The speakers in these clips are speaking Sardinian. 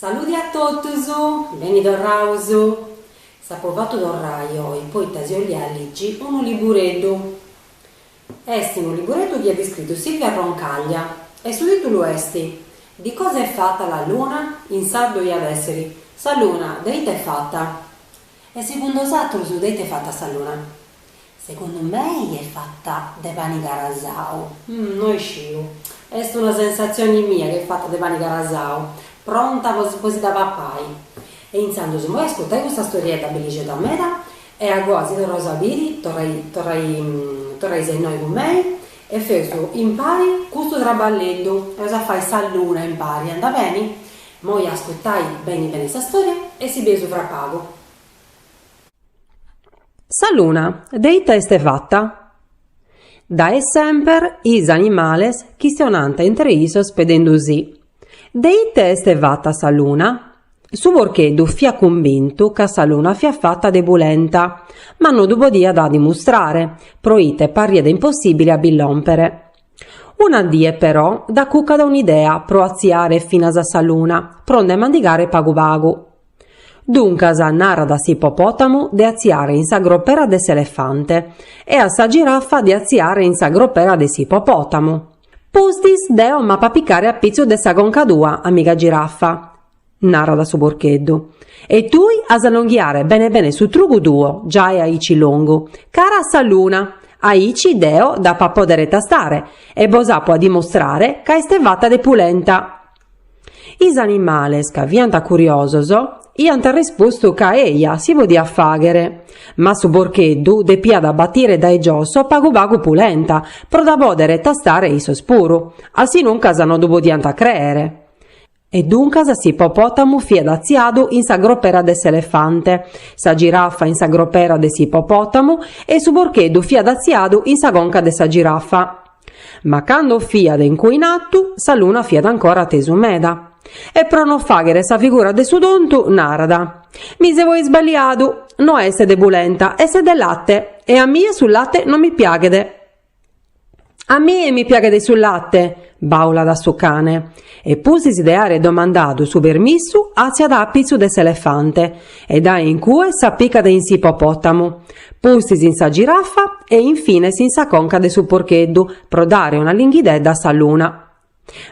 Saludi a totus, beni torraus. S'apo fatu torrai oi poita si 'olia ligi unu libureddu. Est unu libureddu chi at iscritu Silvia Roncaglia e su tìtulu est Di cosa è fatta la luna? In sardu iat èssiri Sa luna de ite est fata? E segundu 'osatrus de ite est fata sa luna? Segundu mei est fata de pani carasau. No isciu. Est una sensatzioni mia chi est fata de pani carasau, pronta po si dda papai. E intzandus immoi ascurtai custa storiedda bellixedda meda e a goa si torraus a biri, torraisi a innoi cun mei e feus impari custu traballeddu, eus a fai sa luna impari, anda beni? Immoi ascurtai beni beni sa storia e si bieus fra pagu. Sa luna de ita est fata? Dae semper is animales chistionant intre issos pedendusi. De ita est fata sa luna? Su porcheddu fiat convintu ca sa luna fiat fata de pulenta, ma no ddu podiat dimustrare, pro ite parriat impossìbile a bi lòmpere. Una die però dd'acucat un'idea pro atziare finas a sa luna, pro nde mandigare pagu pagu. Duncas, narat a s'ippopòtamu de atziare in sa gropera de s'elefante e a sa giraffa de atziare in sa gropera de s'ippopòtamu. Pustis deo m'apo a apicare a pitzu de sa conca tua, amiga giraffa, narat su porcheddu, e tui as a longhiare bene bene su trugu tuo, giai aici longu, cara a sa luna, aici deo dd'apo a pòdere tastare e bos apo a dimostrare ca est fata de pulenta. Is animales, ca fiant curiosos, iant respostu ca eja si podiat fàghere. Ma su porcheddu depiat batire dae giosso pagu pagu pulenta, pro dda pòdere tastare issos puru, a si nuncas no ddu podiant crèere. E duncas s'ippopòtamu fiat atziadu in sa gropera de s'elefante, sa girafa in sa gropera de s'ippopòtamu e su porcheddu fiat atziadu in sa conca de sa girafa. Ma cando fiat in cue in atu, sa luna fiat ancora a tesu meda, e pro non fàghere sa figura de su tontu, narat, Mi seu isballiadu, no est de pulenta, est de late, e a mie su late non mi piaghet. A mie mi piaghet su late! bàulat su cane. E pustis de àere domandadu su permissu àtziat a pitzu de s'elefante e dae in cue s'apicat in s'ippopòtamu, pustis in sa girafa e in fines in sa conca de su porcheddu pro dare una linghidedda a sa luna.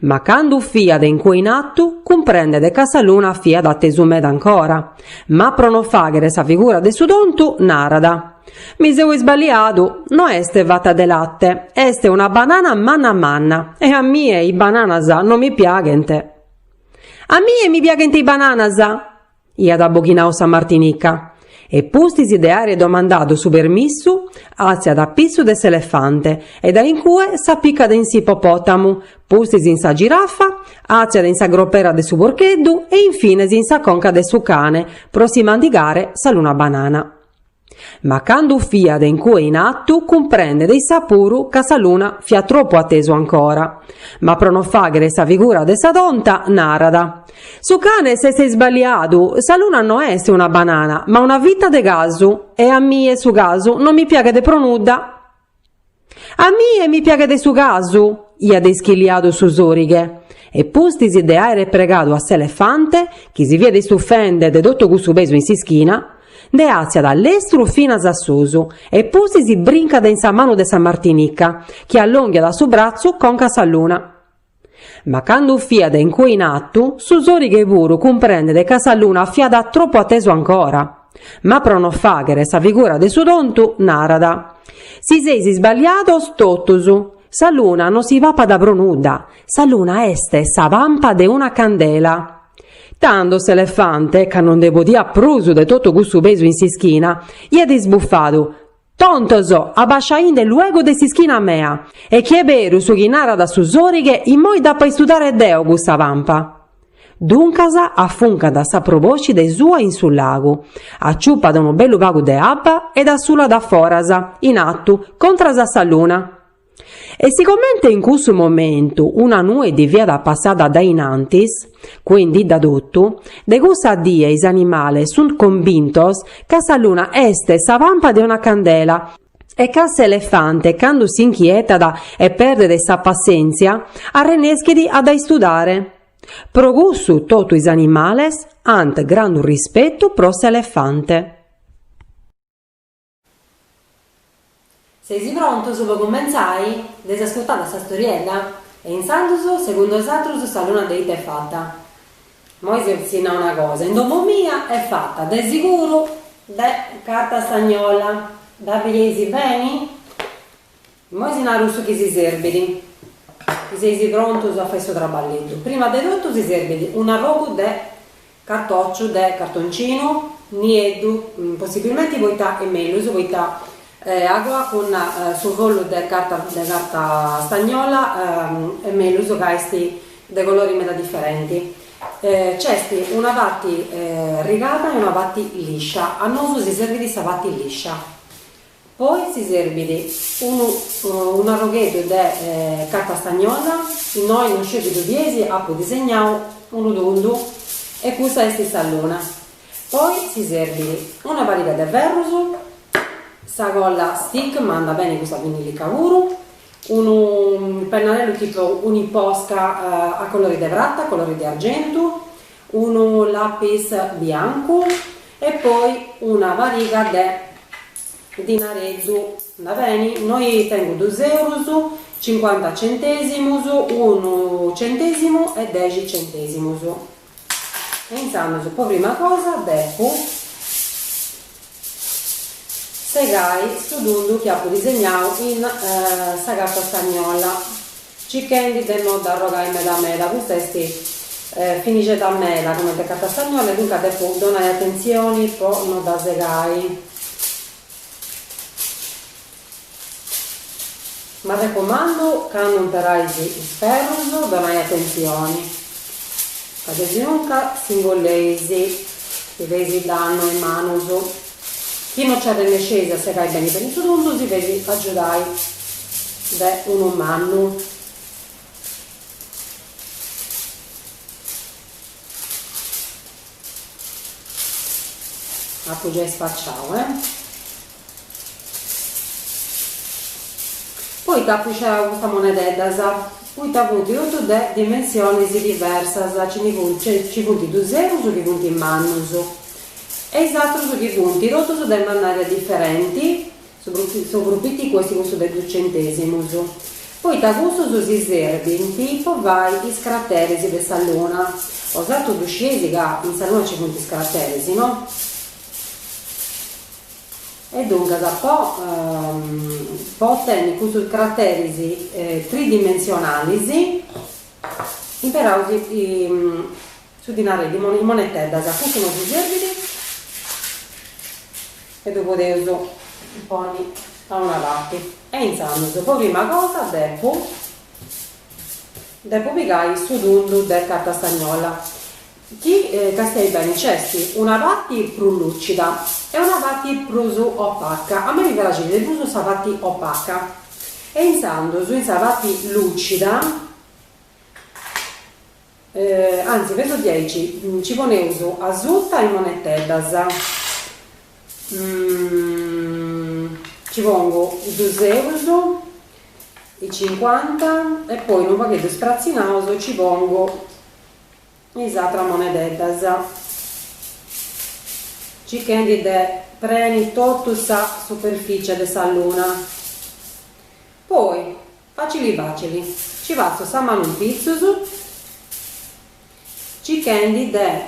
Ma cando fiat in cue in atu cumprendet ca sa luna fiat a tesu meda ancora, ma pro no fàghere sa figura de su tontu narat. Mi seu isbaliadu, no est fata de latte, est una banana manna manna, e a mie is bananas no mi piaghent. A mie mi piaghent is bananas! iat abboghinadu sa martinica, e pustis de àere domandadu su permissu, àtziat a pitzu de s'elefante, e dae in cue s'apicat in s'ippopòtamu, pustis in sa girafa, àtziat in sa gropera de su porcheddu, e in fines in sa conca de su cane, pro si mandigare sa luna banana. Ma candu fiat in cue in atu cumprendet issa puru ca sa luna fiat tropu a tesu ancora. Ma pro no fàghere sa figura de sa tonta, narat, Su cane s'est isballiadu, sa luna no est una banana, ma una fita de casu, e a mie su casu no mi piaghet pro nudda. A mie mi piaghet su casu, iat ischiliadu su sorighe, e pustis de àere pregadu a s'elefante, chi si fiat istufende de totu cussu pesu in s'ischina, nde àtziat a lestru finas a susu, e pustis brincat in sa manu de sa martinica, chi allònghiat su bratzu conca a sa luna. Ma candu fiat in cue in atu, su sorighe puru cumprendet ca sa luna fiat tropu a tesu ancora. Ma pro no fàghere sa figura de su tontu, narat, Si seis isballiados totus. Sa luna no si papat pro nudda. Sa luna est sa pampa de una candela. Tando s'elefante, ca no nde podiat prus de totu cussu pesu in s'ischina, iat isbufadu, Tontos, abasciainde luego de s'ischina mea. E chi est beru su chi narat su sorighe, immoi dd'apo a istudare deo custa pampa. Duncas, afuncat sa proboscide sua in su lagu, aciupat unu bellu pagu de abba e dda sulat a foras, in atu, contras a sa luna. E sicomente in cussu momentu una nue ddi fiat passada dae in antis, cuendidda totu, de cussa die is animales sunt convintos ca sa luna est sa pampa de una candela e ca s'elefante candu s'inchietat e perdet sa passèntzia arrenneschit a dda istudare. Pro cussu totu is animales ant grandu rispetu pro s'elefante. Seis prontos po cumentzai? Dd'eis ascurtada sa storiedda? E intzandus, segundu osatrus, sa luna de ite est fata? Moi si nau una cosa, in domo mia est fata, de siguru, de carta stagnola. Dda bideis beni? Immoi si naru su chi si serbit. Chi seis prontus a fai su traballeddu. Prima de totu si serbit un'arrogu de cartòciu de cartoncinu, nieddu, possibbilmenti poita est mellus, poita agoa cun su follu de carta de carta stagnola est mellus ca est de colori meda diferenti. Nc'est una parti rigada e una parti liscia. A nosu si serbit sa parti liscia. Poi si serbit unu unu arrogheddu de carta stagnola, innoi non sciu chi ddu bieis apu disegnau unu tundu e cussa est sa luna. Poi si serbit una pariga de ferrus, sa colla stick ma andat beni cussa vinnilica puru, unu pennarellu tipu Uniposca a colori de prata, a colori de argentu, Unu lapis biancu e poi una pariga de dinareddu. Andat beni? Innoi tengu dus eurus, cincuanta centesimus, unu centesimu e dexi centesimus. E intzandus po prima cosa depu segai su tundu chi apu disegnau in sa carta stagnola. Circhendi de no dd'arrogai meda meda, custa est finixedda meda comente carta stagnola e duncas depu donai atentzioni po no dda segai. M'arrecomandu candu imperais is ferrus donais atentzioni ca desinunca s'ingolleis si feis dannu a is manus. Chi no nci arrenesceis a segai beni beni su tundu, si feis agiudai de unu mannu. Apu giai spaciau, eh! Poita apu sceberau custas monededdas? Poita funt totu de dimensionis diversas, nci funt, nci funt dus eurus chi funt mannus, E is atrus chi funt totus de mannària diferenti, su su prus piticu est cussu de dus centèsimus, poita cussus si serbint po fai is crateris de sa Luna, osatrus ddu scieis ca in sa Luna nci funt is crateris, no? E duncas po po otenni custus crateris tridimensionalis imperaus Su dinari in moneteddas a cussu nosi serbit e ddu podeus ponni a una parti e intzandus po prima cosa depu depu pigai su tundu de carta stagnola chi castiais beni nc'est una parti prus lucida e una parti prus opaca a mei mi praxit de prus sa parti opaca e intzandus in sa parti lucida Anzi, fatzu diaici nci poneus asuta is moneteddas. Nci pongu is dus eurus, is cincuanta e poi unu pagheddu spratzinaus nci pongu is atras moneteddas, circhendi de preni totu sa superficie de sa luna. Poi Facili facili, ci passu sa manu in pitzus, circhendi de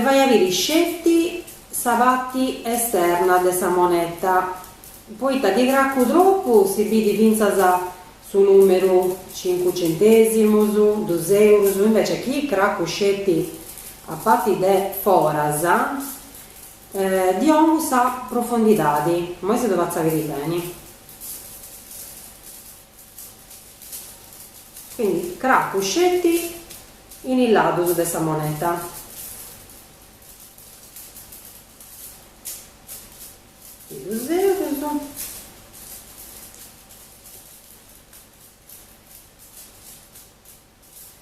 fai a biri sceti sa parti esterna de sa moneta, poita chi cracu tropu si bidi fintzas su numeru cincu centesimus, dus eurus, invece chi cracu sceti a parti de foras Ddi 'ongu sa profondidadi. Moi si ddu fatzu a biri beni. Quindi cracu sceti in is ladus de sa moneta. Is dus eurus.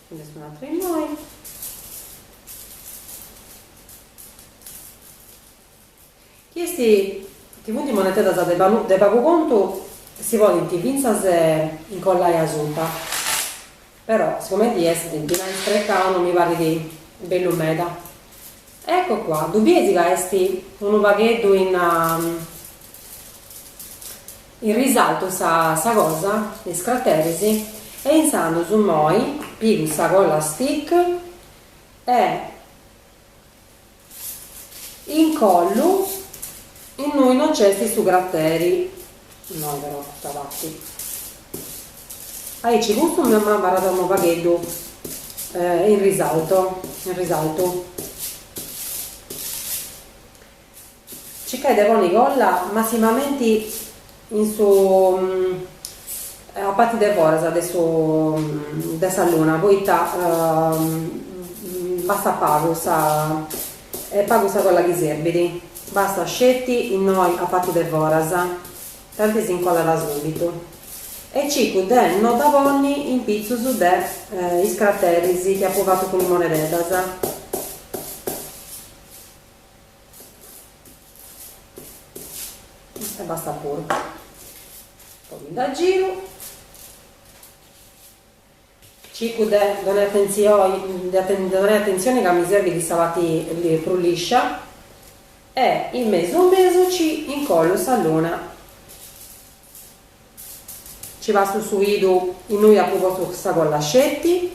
Nci nd'est un'atru innoi. Chi est chi funt moneteddas de pagu contu si podint fintzas incollai asuta. Però sigumenti est dinai sprecau no mi parit bellu meda. Ecco qua, ddu bieis ca est unu pagheddu in In risaltu sa sa cosa, is crateris, e intzandus moi pigu sa colla stick e incollu innui no nc'est su crateri, innoi però custa parti, aici custu mi m'abarrat unu pagheddu in risalto, in risaltu. Circai de ponni colla massimamenti in su a parti de foras de su de sa luna poita bastat pagu, est pagu sa colla chi serbit, bastat sceti innoi a parti de foras tanti s'incollat subitu e circu de no dda ponni in pitzus de is crateris chi apu fatu cun is monededas. e bastat puru poi dda giru circu de donai attenzioi de donai attenzioni ca mi serbit chi sa parti prus lìscia e in mesu mesu ci incollu sa luna ci passu su idu innui apu postu sa colla sceti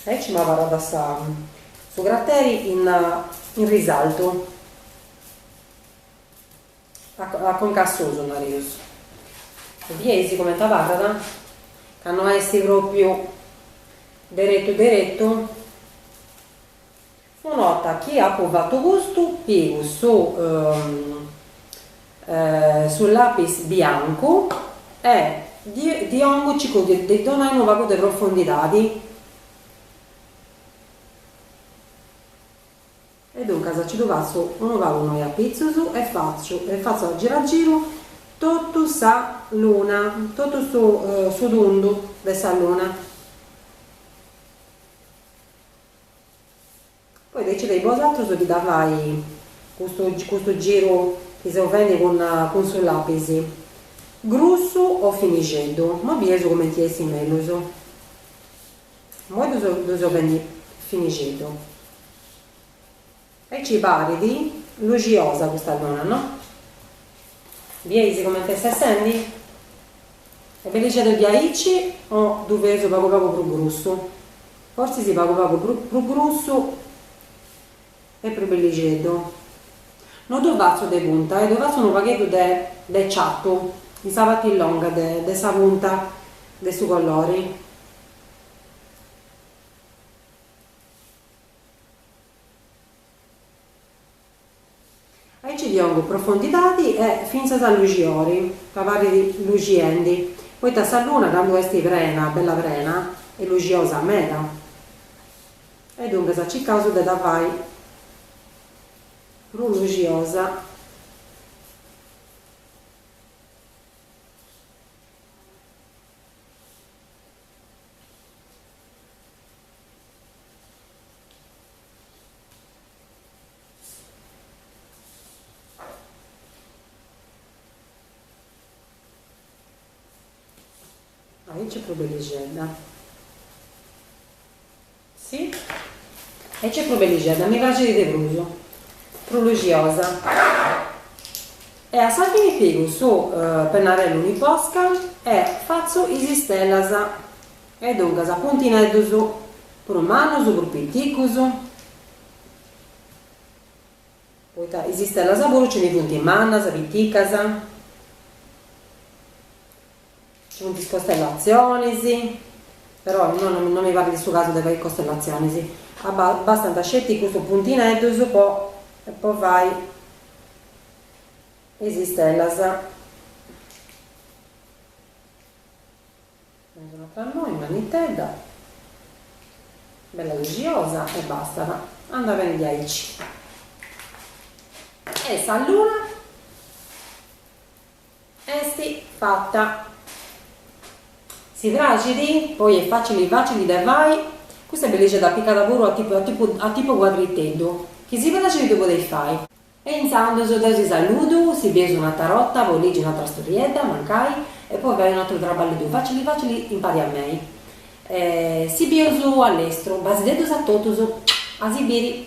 Aici m'abarrat sa su crateri in in risaltu a conca a susu nareus e bieis comente abarrat ca no est propriu deretu deretu Su 'orta chi apu fatu custu pigu su su lapis biancu e ddi 'ongu circu de ddi donai unu pagu de profundidadi e duncas nci ddu passu unu pagu innoi a pitzus e fatzu e fatzu a giru a giru totu sa luna totu su su tundu de sa luna Poi decidei bosatrus chi dda fai custu custu giru chi seu fendi cun cun su lapis, grussu o finixeddu, mo bieus cumenti bessit mellus. Moi ddu seu ddu seu fendi finixeddu. Aici parit luxiosa custa luna no? Bieis comente est essendi? Est bellixeddu diaici o ddu feus pagu pagu prus grussu? Fortzis pagu pagu prus grussu est prus bellixeddu. No ddu fatzu de punta e ddu fatzu unu pagheddu de de ciatu in sa parti longa de de sa punta de su colori. Aici ddi ongu profondidadi e fintzas a luxiori, ca parrit luxiendi, poita sa luna candu est prena, bella prena, est luxiosa meda. E duncas circaus de dda fai prus luxiosa. Aici est propriu bellixedda. Si. Aici est propriu bellixedda, mi praxit de prus. Prus luxiosa. E a sa fini pigu su pennarellu Uniposca e fatzu is istellas. E duncas, puntineddus, prus mannus, prus piticus. Poita is istellas puru nci ndi funt mannas, piticas. Nci funt is costellatzionis, però no no mi parrit su casu de fai is costellatzionis. Abbastant sceti custus puntineddus po po fai is istellas. Dai un'atra innoi mannitedda, bella luxiosa e bastat, andat beni diaici. E sa luna esti fatta. Si praxit, poi est facili facili de fai, custa est bellixedda apicada puru a tipu cuadriteddu, chi si praxit ddu podeis fai. E intzandus deu si saludu, si bieus un'atra borta, po ligi un'atra storiedda, mancai, e po fai un'atru trabballeddu facili facili impari a mei. E si bieus allestru. Basideddus a totus. A si biri.